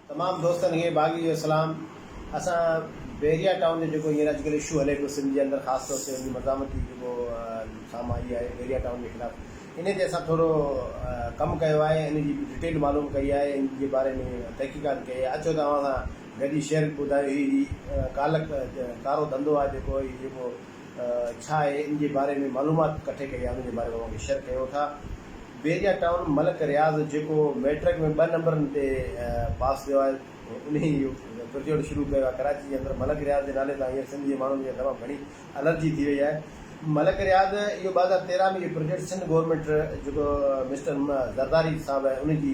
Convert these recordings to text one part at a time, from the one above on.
تمام دوستن کي باغي جو سلام اسان بحريا ٽائون جو جيڪو هينئر اڄڪلهه اشو هلي پيو سنڌ جي اندر خاص طور تي ان جي مزاحمت جي جيڪو سامهون آئي آهي بحريا ٽائون جي خلاف انهي تي اسان ٿورو ڪم ڪيو آهي ان جي ڊٽيل معلوم ڪئي آهي ان جي باري ۾ تحقيقات ڪئي آهي اچو ته اوهان سان گڏ هي شيئر ٻڌايو هي هي ڪالا ڪارو ڌنڌو آهي جيڪو هي جيڪو ڇا آهي ان جي باري ۾ معلومات ڪٺي ڪئي آهي ان جي باري ۾ اوهان کي شيئر ڪيون ٿا. بحريا ٽائون ملڪ رياض جيڪو ميٽرڪ ۾ ٻه نمبرن تي پاس ٿيو آهي انهي اهو پرجوڙ شروع ڪيو آهي ڪراچي جي اندر ملڪ رياض جي نالي تان هينئر سنڌ جي ماڻهن کي تمام گهڻي الرجي ٿي وئي آهي ملڪ رياض اهو ٻه هزار تيرهن ۾ اهو پرجوڙ سنڌ گورنمينٽ جيڪو مسٽر زرداري صاحب آهي انهي جي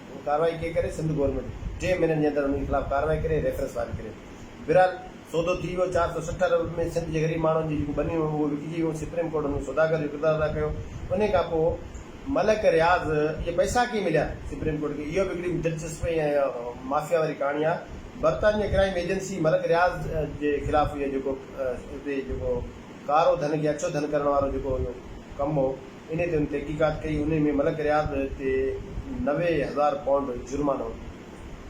هو ڪارروائي ڪئي ڪري سنڌ گورنمينٽ ٽي مهينن جي اندر انهن جي خلاف ڪارروائي ڪري ريفرنس فائل ڪري ٿي بھرحال سودو ٿي ويو چار سؤ سٺ ارب ۾ سنڌ جي غريب ماڻهن جون جيڪون ٻنيون هيون اهي وڪجي ويون سپريم ڪورٽ هن سوداگر جو ڪردار ادا ڪيو انهي کان پوء ملڪ رياض اهي پئسا ڪئين مليا سپريم ڪورٽ کي اهو به هڪڙي دلچسپ ۽ مافيا واري ڪهاڻي آ برطانيه ڪرائيم ايجنسي ملڪ رياض جي خلاف اهو جيڪو اتي جيڪو ڪارو ڌن کي اڇو ڌن ڪرڻ وارو جيڪو اهو ڪم هو انهيء تي هن تحقيقات ڪئي، انهيء ۾ ملڪ رياض تي نوي هزار پائونڊ جرمانو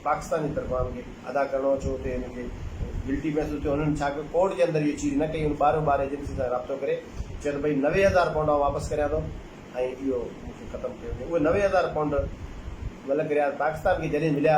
پاڪستان جي طرفان هن کي ادا ڪرڻو هو، ڇو اتي هن کي گلٽي محسوس ٿيو، هن ڇا ڪيو ڪورٽ جي اندر اهي چيز نه ڪئي، هن ٻاهريون ٻار ايجنسين سان رابطو ڪري چيو ته ڀئي نوي هزار پائونڊ آئون واپس ڪريان ٿو ۽ اهو مون کي ختم ڪيو وڃي، اهي نوي هزار پائونڊ ملڪ رياض پاڪستان کي جڏهن مليا.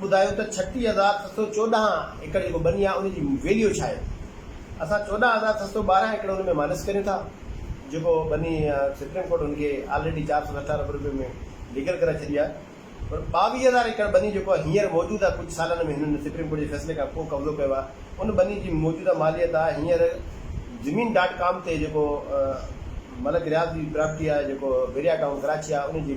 ٻڌايو ته ڇٽيهه هزار ڇهه سؤ چوڏهن ايڪڙ جيڪو ٻني آهي ان جي ويليو ڇا آهي؟ اسان چوڏهن هزار ڇهه سؤ ٻارهن ايڪڙ ان ۾ مائنس ڪريون ٿا جيڪو ٻني سپريم ڪورٽ ان کي آلريڊي چار سؤ سٺ ارب رپين ۾ ليگل ڪرائي ڇڏي آهي پر ٻاويهه هزار ايڪڙ ٻني جيڪو هينئر موجود آهي ڪجهه سالن ۾ هنن سپريم ڪورٽ جي فيصلي کان پوء قبضو ڪيو آهي ان ٻني جي موجوده ماليت آهي هينئر زمين ڊاٽ ڪام تي جيڪو ملڪ رياض جي پراپرٽي آهي جيڪو ويريا ٽائون ڪراچي آهي ان جي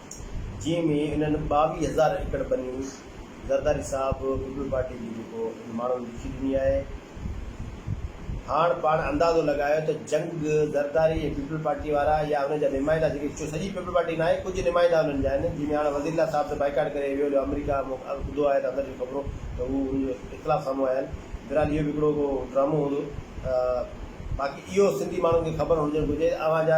جنهن ۾ انهن ٻاويهه هزار ايڪڙ ٻني زرداري صاحب پيپلز پارٽي جي جيڪو انهن ماڻهن لکي ڏني آهي هاڻ پاڻ اندازو لڳايو ته جنگ زرداري ۽ پيپلز پارٽي وارا يا انهن جا نمائندا جيڪي چون سڄي پيپلز پارٽي ناهي ڪجهه نمائندا انهن جا آهن جنهن ۾ هاڻ وزير الله صاحب ته بائيڪاٽ ڪري ويو جو آمريڪا مون ٻڌو آهي ته اندر جون خبرون ته هو انهن جو اختلاف سامهون آيا آهن بهرحال اهو به هڪڙو ڪو ڊرامو هوندو ته باقي اهو سنڌي ماڻهن کي خبر هجڻ گهرجي اوهان جا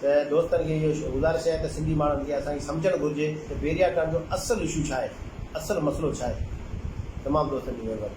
ته دوستن کي اهو گذارش آهي ته سنڌي ماڻهن کي اسان کي سمجهڻ گهرجي ته بيريا ٽرن جو اصل اشو ڇا آهي، اصل مسئلو ڇا آهي. تمام دوستن جي مهرباني.